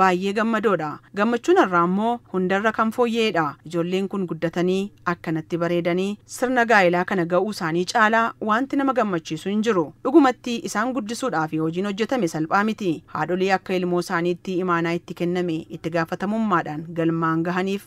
Baayyee gammadoodha. Gammachuun har'aa immoo hundarra kan fooyya'edha. Ijoolleen kun guddatanii akkanatti bareedanii sirna gaa'elaa kana ga'uu isaanii caalaa waanti nama gammachiisu hin jiru. Dhugumatti isaan guddisuudhaafi hojiin hojjetame salphaa miti. Haadholii akka ilmoo isaaniitti imaanaa itti kenname itti gaafatamummaadhaan galmaan gahaniif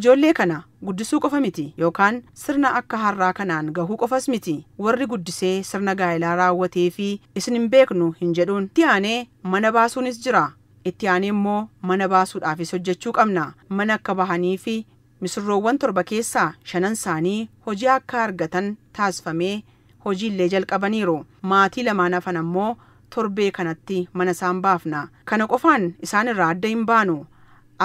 Ijoollee kana guddisuu qofa miti yookaan sirna akka har'aa kanaan gahuu qofas miti. Warri guddisee sirna gaa'elaa raawwateefi isin hin beeknu hin jedhuun. Itti aanee mana baasuunis jira. Itti aanee immoo mana baasuudhaafis hojjechuu qabna. Mana akka bahaniifi misirroowwan torba keessaa shanan isaanii hojii akka argatan taasifamee hojii illee jalqabaniiru. Maatii lamaan hafan ammoo torbee kanatti mana isaan baafna. Kana qofaan isaan irraa adda hin baanu.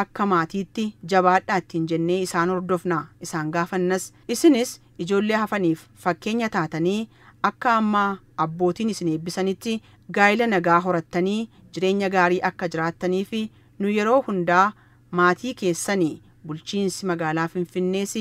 Akka maatiitti jabaadhaa ittiin jennee isaan hordofna, isaan gaafannas. Isinis ijoollee hafaniif fakkeenya taatanii akka amma abbootiin isin eebbisanitti gaa'ila nagaa horattanii jireenya gaarii akka jiraattaniif nu yeroo hundaa maatii keessani. Bulchiinsi Magaalaa Finfinnees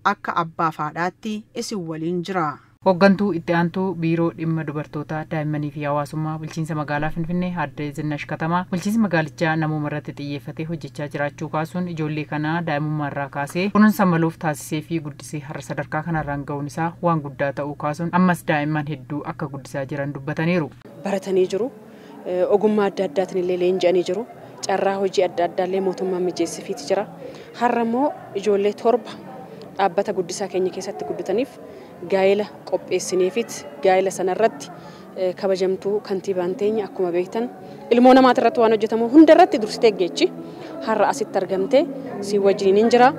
akka abbaaf haadhaatti isin waliin jira. Hoggantuu Itti Aantuu Biiroo Dhimma Dubartootaa, Daa'immanii fi Hawaasummaa Bulchiinsa Magaalaa Finfinnee Aadde Zinnash Katamaa, bulchiinsi magaalichaa namooma irratti xiyyeeffatee hojjechaa jiraachuu kaasuun, ijoollee kana daa'imummaa irraa kaasee kunuunsa maluuf taasiseefii guddisee har'a sadarkaa kanarraan ga'uun isaa waan guddaa ta'uu kaasuun, ammas daa'imman hedduu akka guddisaa jiran dubbataniiru. baratanii jiru. Ogummaa adda addaatiin illee leenji'anii jiru. Carraa hojii adda addaa illee mootummaan mijeessifiiti jira. Har'a immoo ijoollee torba dhaabbata guddisaa keenya keessatti guddataniif gaa'ela qopheessineefiit gaa'ela sana irratti kabajamtuu kantiibaan teenya akkuma beektan ilmoo namaati irratti waan hojjetamu hunda irratti dursitee geechi har'a asitti argamtee si wajjiniin hin jira.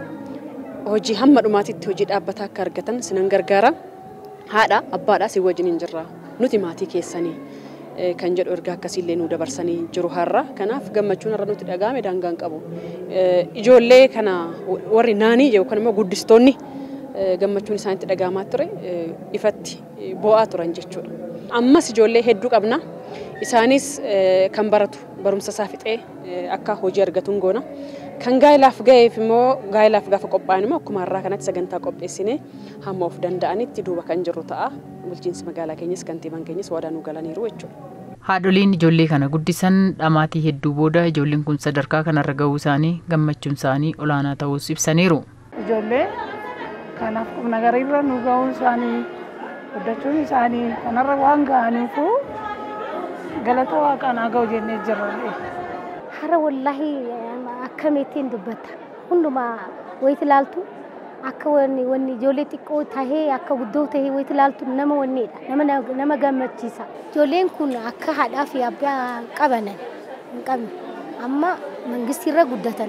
Hojii hamma dhumaatitti hojii dhaabbataa akka argatan sinan gargaara. Haadha abbaadha si wajjiniin jirra. Nuti maatii keessani kan jedhu ergaa akkasii illee nuu dabarsanii jiru har'a. Kanaaf gammachuun har'a nutti dhaga'ame daangaa hin qabu. Ijoollee kana warri naanii yookaan immoo guddistoonni gammachuun isaanitti dhaga'amaa ture ifatti boo'aa turan jechuudha. Ammas ijoollee hedduu qabna. Isaanis kan baratu barumsa isaa fixee akka hojii argatuun goona. Kan gaa'ilaaf ga'eef immoo gaa'ilaaf gaafa qophaa'an immoo akkuma har'aa kanatti sagantaa qopheessinee hamma of danda'anitti duuba kan jirru ta'a. Bulchiinsi magaalaa keenyas kantiibaan keenyas waadaa nuu galaniiru jechuudha. Haadholiin ijoollee kana guddisan dhamaatii hedduu booda ijoolleen kun sadarkaa kanarra gahuu isaanii gammachuun isaanii olaanaa ta'uus ibsaniiru. Ijoollee kanaaf qubnagariirra nu gahuun isaanii, guddachuun isaanii kanarra waan gahaniifuu galata waaqaan haa gahu jennee jirra. Hara wollahi akkamittin dubbatta. Hundumaa wayiti ilaaltu akka wanni wanni ijoollee xiqqoo tahee akka guddoo tahee wayiti ilaaltu nama wanneedha. Nama na- nama gammachiisa. Ijoolleen kun akka haadhaa fi abbaa hin qabanan hin qabne amma mangistiirra guddatan.